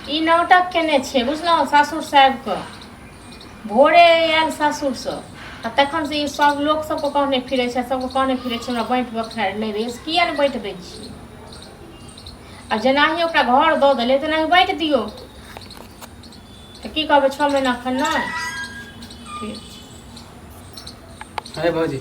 ई नाटक केने छै बुझलहुँ सासुरसँ आबि कऽ भोरे आयल सासुरसँ आ तखनसँ ई सभ लोक सभके कहने फिरै छै सभके कहने फिरै छै हमरा बाँटि बखारि नहि दै किए नहि बाँटि दै छी आ जेनाही ओकरा घर दऽ देलै तेनाही बाँटि दियौ तऽ की कहबै छओ महीना एखन नहि ठीक अरे भाजी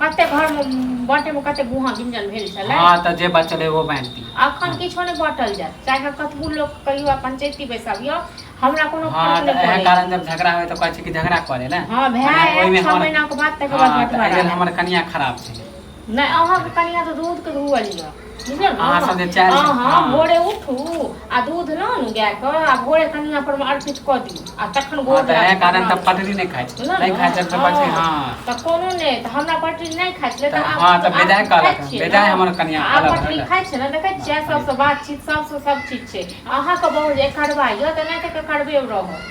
कते घर में बाटे में कते गुहा गिंजन भेल छले हाँ तऽ जे बचल एगो बाँटि दी अखन किछो नहि बाँटल जाय चाहे कतबू लोक कहियो आ पंचायती बैसाबियो हमरा कोनो हाँ फर्क तऽ नहि एहे पड़ै कारण जब झगड़ा होय तऽ कहै छै कि झगड़ा करे ने हाँ भाय मने आयल ओहिमे छह हमर- महीना के बाद तकर बाद हाँ, तऽ एहि बंटवारा लेल आयल। हमर कनिया खराब छै नहि अहाँके कनिया तऽ दूध के धुअल यऽ बुझलियै ने अहाँ सबके चारि हँ हँ हँ भोरे उठू आ दूध लऽ ने गायके आ भोरे कनिया पर मे अर्पित कऽ दियौ आ तखन हँ गोड़ तऽ लगा इएह कऽ कारण तऽ प्रणाम पटरी नहि खाइ छै बुझलहुँ नहि ने? खाइ छै तऽ पटरी हँ हँ तऽ कोनो नहि तऽ हमरा पटरी नहि खाइ छलै तऽ हँ, तऽ बेजाय कहलक हँ, बेजाय हमर कनिया आब अलग पटरी रहलक। खाइ छै ने देखै छियै सबसँ बातचीत सबसँ सब चीज छै अहाँके बहुत जे करबा यऽ तऽ नहि तऽ करबे रहत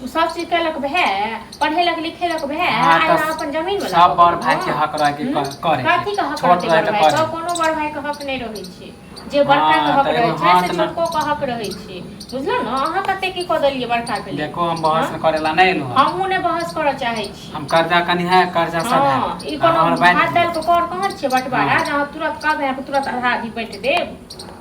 तू सब चीज केलक भए पढ़ेलक लिखेलक भए हाँ, आइ तऽ अपन जमीन वाला सब बड़ भाई के हक रहे के हम्म? करे कथी के हक छोट रहे के करे कोनो बड़ भाई के हक नै रहै छै जे बड़का हाँ, के हक रहै छै से छोटको के हक रहै छै बुझलो न अहाँ कते की क देलिए बड़का के लिए देखो हम बहस हाँ? करे ला नै एलु हमहु नै बहस करऽ चाहै छी हम कर्जा कनी है कर्जा सब है हाँ, ई कोनो हाथ डाल के कर कहां छै बटवारा जहां तुरंत कहबे तुरंत आधा आधी बैठ देब